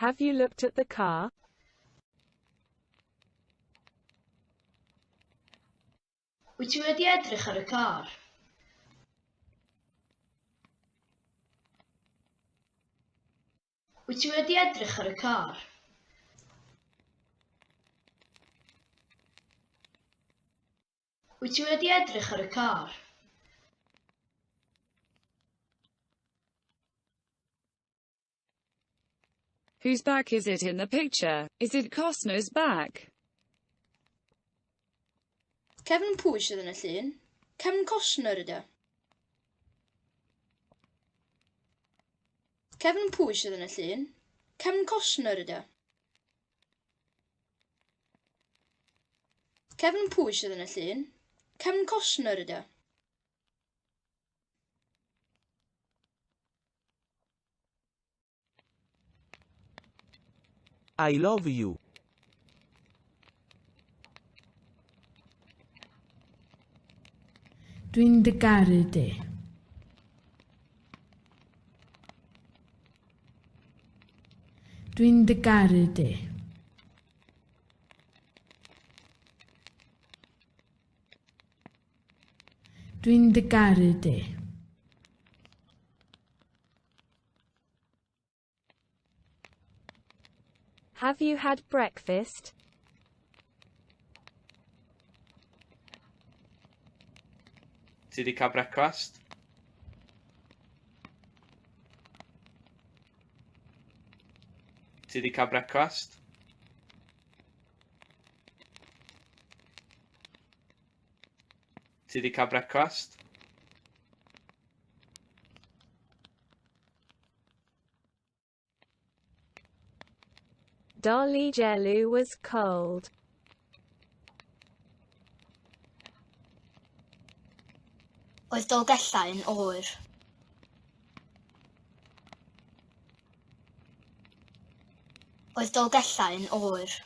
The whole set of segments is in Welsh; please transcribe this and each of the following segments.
Have you looked at the car? Wyt ti wedi edrych ar y car? Wyt ti wedi edrych ar y car? Wyt ti wedi edrych ar y car? Whose back is it in the picture? Is it Costner's back? Cefn pwy sydd yn y llun? Cefn Costner ydy o. Cefn pwy sydd yn y llun? Cefn Costner ydy o. Cefn pwy sydd yn y llun? Cefn Costner ydy o. I love you. Dwi'n dy garu di. Dwi'n dy garu di. Dwi'n dy garu di. Have you had breakfast? Ti wedi cael brecwast? Ti wedi cael brecwast? Ti wedi cael brecwast? Dolly Jellu was cold. Oedd Dolgellau yn oer. Oedd Dolgellau yn oer.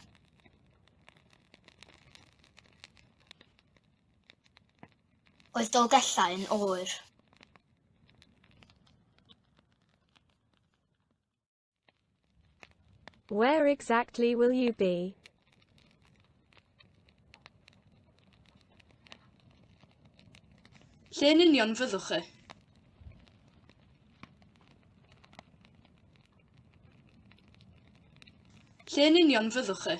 Oedd Dolgellau yn oer. Where exactly will you be? Lle yn union fyddwch chi? Lle yn union fyddwch chi?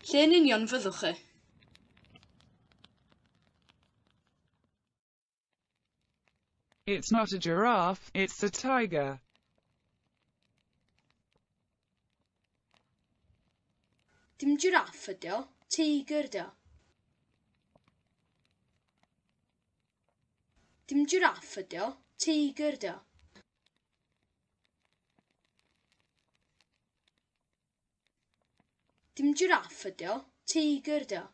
Lle yn union fyddwch chi? It's not a giraffe, it's a tiger. Dim jiraff ydi o, teigr ydi o. Dim jiraff ydi o, teigr ydi o. Dim jiráff ydi o, teigr ydi o.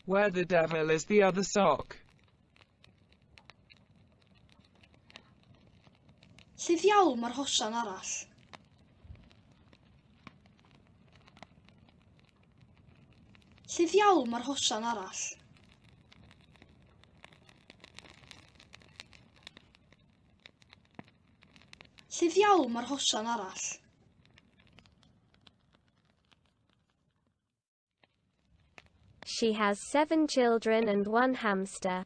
Where the devil is the other sock? Lle ddiawl mae'r hosan arall? Lle ddiawl mae'r hosan arall? Lle ddiawl mae'r hosan arall? She has seven children and one hamster.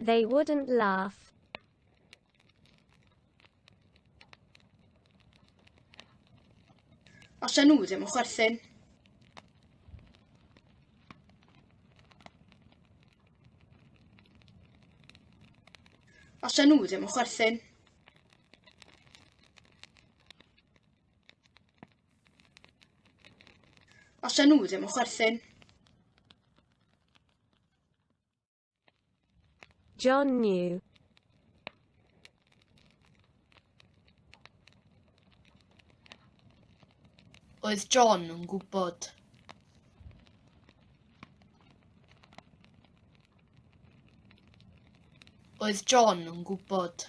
They wouldn't laugh. Os ydyn nhw ddim yn chwerthin. Os ydyn nhw ddim yn chwerthin. Os ydyn nhw ddim yn chwerthin. John New Oedd John yn gwybod? Oedd John yn gwybod?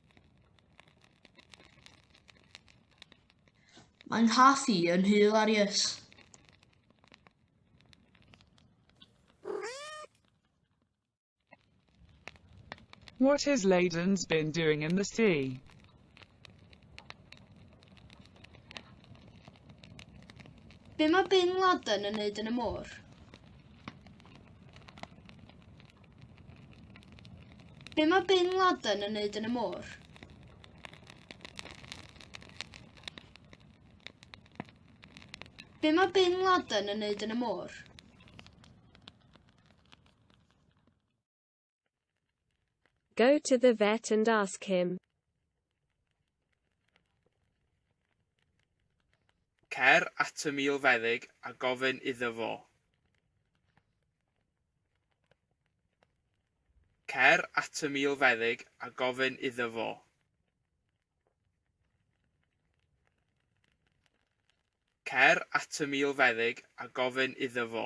Mae'n nghath i yn hilarious. What has Ladens been doing in the sea? Be mae Bin Laden yn neud yn y môr? Be mae Bin Laden yn neud yn y môr? Be mae Bin Laden yn neud yn y môr? Go to the vet and ask him. Cer at y milfeddyg a gofyn iddo fo. Cer at y milfeddyg a gofyn iddo fo. Cer at y milfeddyg a gofyn iddo fo.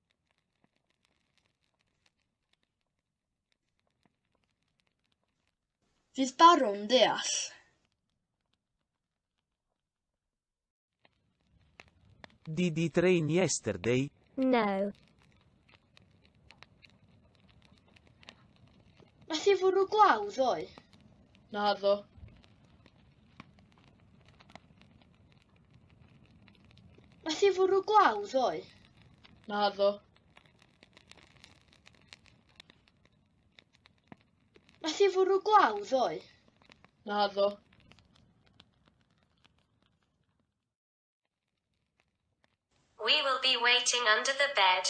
Fydd Baron ddeall? Did it rain yesterday? No. Nath i fwrw glaw ddoe? Naddo. Nath i fwrw glaw ddoe? Na ddo. Nath i fwrw glaw ddoe? Na ddo. We will be waiting under the bed.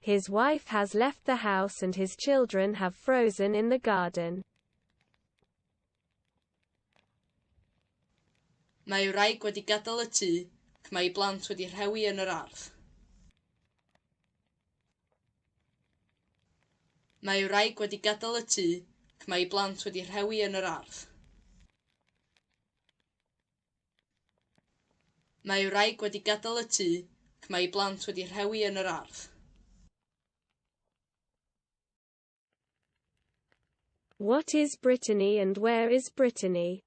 His wife has left the house and his children have frozen in the garden. Mae ei wraig wedi gadael y tŷ ac mae ei blant wedi rhewi yn yr ardd. Mae ei wraig wedi gadael y tŷ ac mae ei blant wedi rhewi yn yr ardd. Mae ei wraig wedi gadael y tŷ ac mae ei blant wedi rhewi yn yr ardd. What is Brittany and where is Brittany?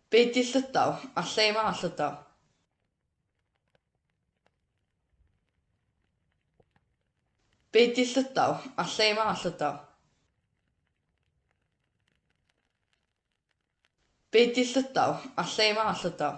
Be di Llydaw? A lle mae Llydaw? Be di Llydaw? A lle mae Llydaw? Be di Llydaw? A lle mae Llydaw?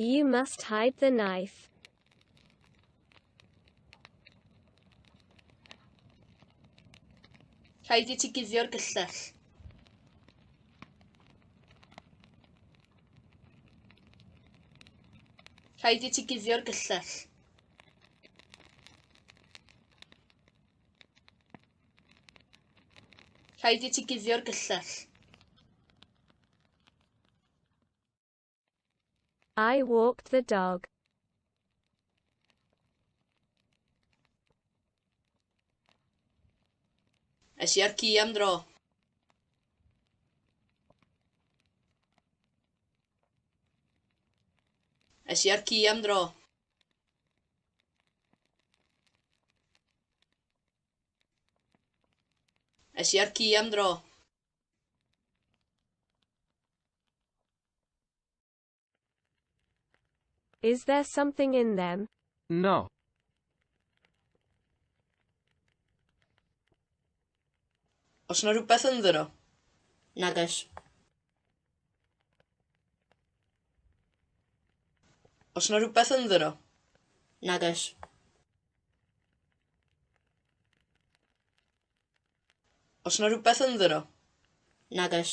You must hide the knife. Rhaid i ti guddio'r gyllell. Rhaid i ti guddio'r gyllell. Rhaid i ti guddio'r gyllell. I walked the dog. Es i ar ci am dro. Es i ar ci am dro. Es i ar ci am dro. Is there something in them? No. Os na rhywbeth ynddyn nhw. Nag oes. Os yna rhywbeth ynddyn nhw? Nag oes. Os yna rhywbeth ynddyn nhw? Nag oes.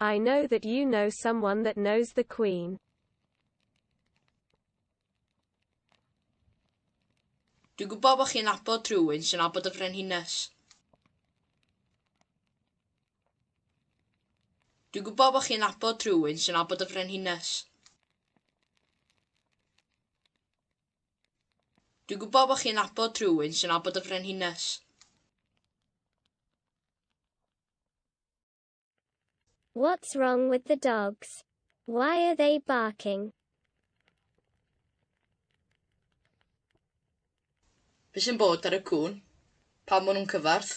I know that you know someone that knows the Queen. Dwi'n gwybod bod chi'n abod rhywun sy'n abod y frenhines. Dwi'n gwybod bod chi'n abod rhywun sy'n abod y frenhines. Dwi'n gwybod bod chi'n abod rhywun sy'n abod y frenhines. What's wrong with the dogs? Why are they barking? Be sy'n bod ar y cŵn? Pam maen nhw'n cyfarth?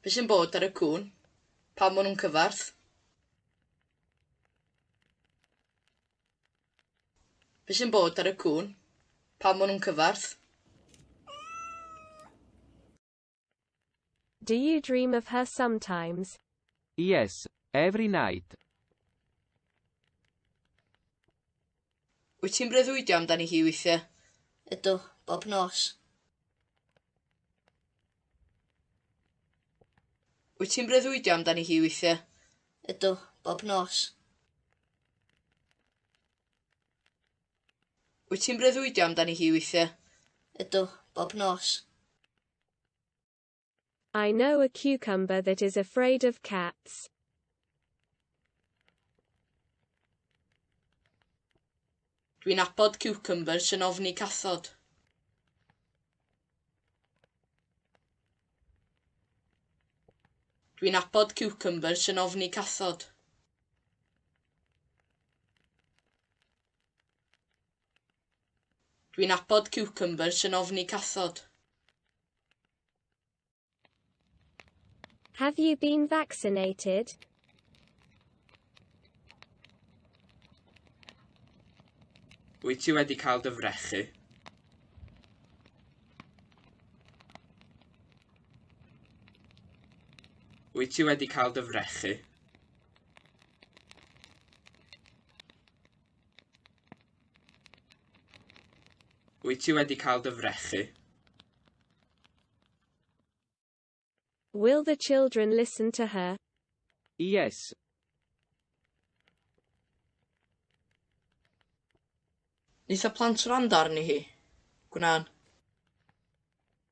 Be sy'n bod ar y cŵn? Pam maen nhw'n cyfarth? Be sy'n bod ar y cŵn? Pam maen nhw'n cyfarth? Do you dream of her sometimes? Yes, every night. Wyt ti'n breuddwydio amdani hi weithiau? Ydw, bob nos. Wyt ti'n breuddwydio amdani hi weithiau? Ydw, bob nos. Wyt ti'n breuddwydio amdani hi weithiau? Ydw, bob nos. I know a cucumber that is afraid of cats. Dwi'n abod ciwcymbyrs sy'n ofni cathod. Dwi'n abod ciwcymbyrs sy'n ofni cathod. Dwi'n abod ciwcymbyrs yn ofni cathod. Have you been vaccinated? Wyt ti wedi cael dy frechu? Wyt ti wedi cael dy frechu? Wyt ti wedi cael dy frechu? Will the children listen to her? Yes. Wnaeth y plant wrando arni hi? Gwnawn.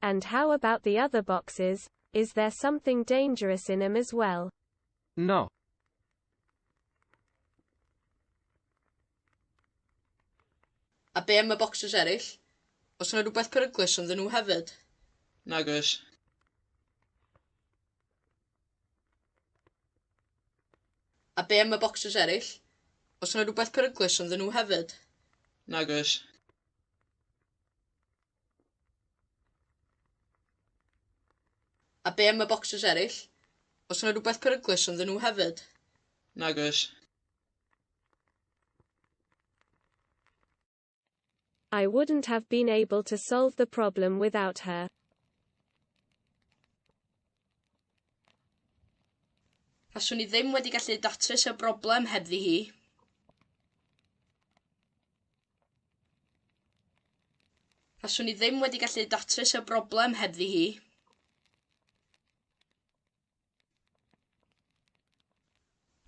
And how about the other boxes, is there something dangerous in 'em as well? No. A be am y bocsys eraill? Os yna rhywbeth peryglus ynddyn nhw hefyd? Nag oes. A be am y bocsys eraill? Os yna rhywbeth peryglus ynddyn nhw hefyd? Nag oes. A be am y bocsys eraill? Os yna rhywbeth peryglus ynddyn nhw hefyd? Nag oes. I wouldn't have been able to solve the problem without her. Faswn i ddim wedi gallu datrys y broblem hebddi hi. A swn i ddim wedi gallu datrys y broblem hebddi hi.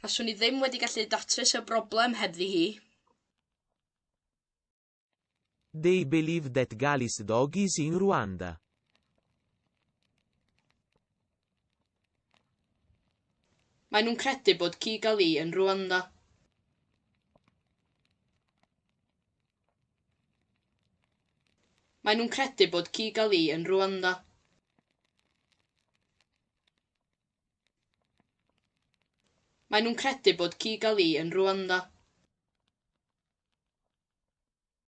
A swn i ddim wedi gallu datrys y broblem hebddi hi. They believe that Galis dog is in Rwanda. Maen nhw'n credu bod Kigali yn Rwanda. Maen nhw'n credu bod Kigali yn Rwanda. Maen nhw'n credu bod Kigali yn Rwanda.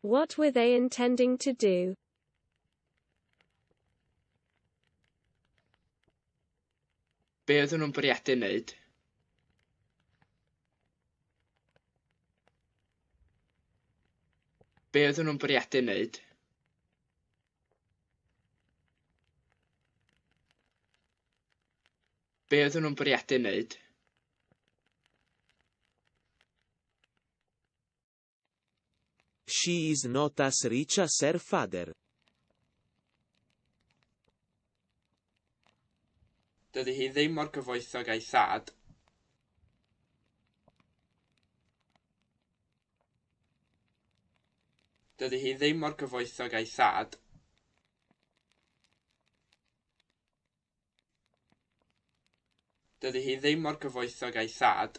What were they intending to do? Be oedden nhw'n bwriadu wneud? Be oedden nhw'n bwriadu wneud? be oedden nhw'n bwriadu wneud. She is not as rich as her father. Dydy hi ddim mor gyfoethog a'i thad. Dydy hi ddim mor gyfoethog a'i thad. Dydy hi ddim mor gyfoethog a'i thad.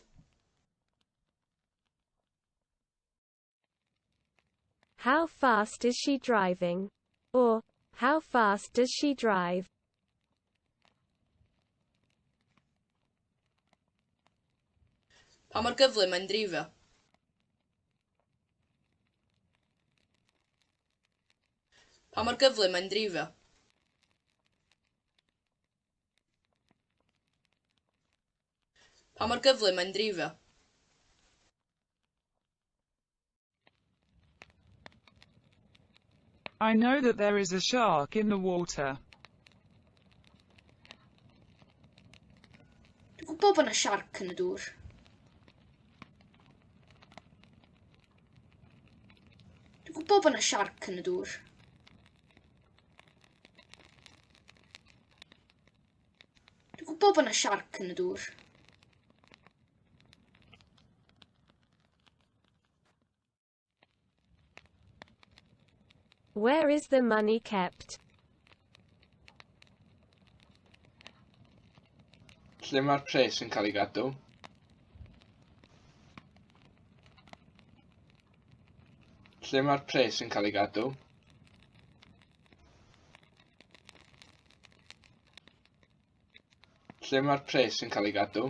How fast is she driving? Or, how fast does she drive? Pa mor gyflym mae'n dreifio? Pa mor gyflym mae'n dreifio? Pa mor gyflym mae'n dreifio? I know that there is a shark in the water. Dwi'n gwybod bod yna siarc yn y dŵr. Dwi'n gwybod bod yna siarc yn y dŵr. Dwi'n gwybod bod yna siarc yn y dŵr. Where is the money kept? Lle mae'r pres yn cael ei gadw? Lle mae'r pres yn cael ei gadw? Lle mae'r pres yn cael ei gadw?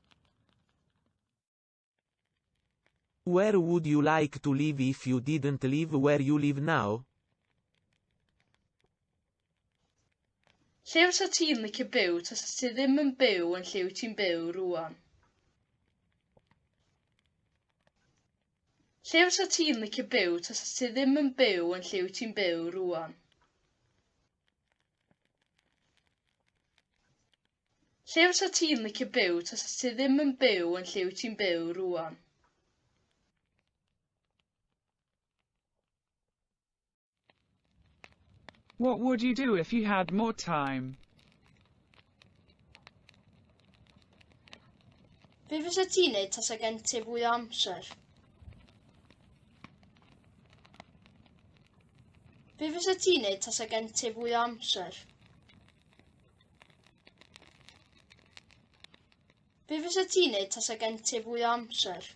Where would you like to live if you didn't live where you live now? Lle fysa ti'n licio byw tasa ti ddim yn byw yn lle wyt ti'n byw rwan? Lle fysa ti'n licio byw tasa ti ddim yn byw yn lle wyt ti'n byw rwan? Lle fysa ti'n licio byw tasa ti ddim yn byw yn lle wyt ti'n byw rŵan? What would you do if you had more time? Be fysa ti'n neud tasa gen ti fwy o amser? Be fysa ti'n neud tasa gen ti fwy o amser? Be fysa ti'n neud tasa gen ti fwy o amser?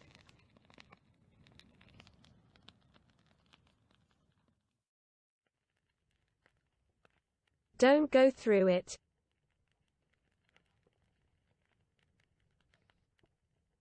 Don't go through it.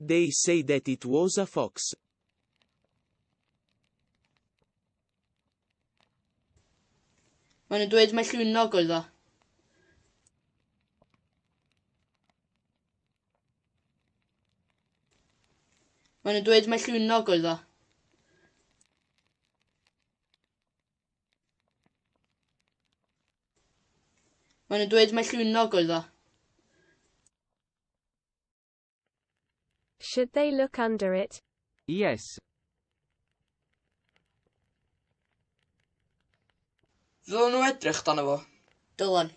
They say that it was a fox. Maen nhw'n dweud mai llwynog oedd o. Maen nhw'n dweud mai llwynog oedd o. Mae nhw'n dweud mae llwynog oedd o. Should they look under it? Yes. Ddylen nhw edrych dan efo. Dylan.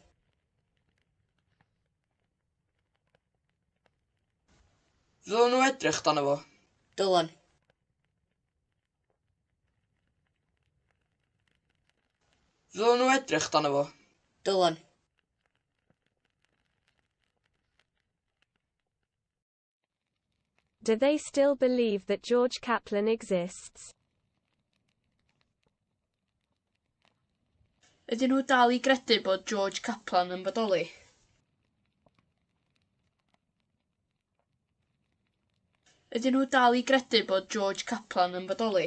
Ddylen nhw edrych dan efo. Dylan. Ddylen nhw edrych dan efo. Dylen. Do they still believe that George Kaplan exists? Ydyn nhw dal i gredu bod George Kaplan yn bodoli? Ydyn nhw dal i gredu bod George Caplan yn bodoli?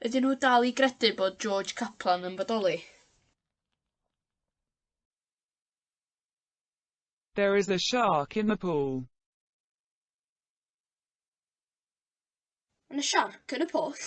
Ydyn nhw dal i gredu bod George Caplan yn bodoli? There is a shark in the pool. Yn y siarc yn y pwll.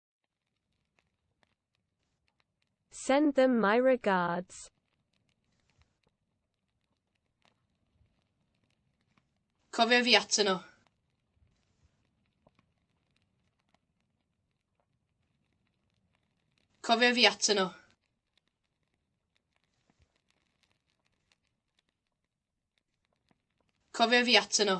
Send them my regards. Cofio fi atyn nhw. Cofio fi atyn nhw. Cofio fi atyn nhw.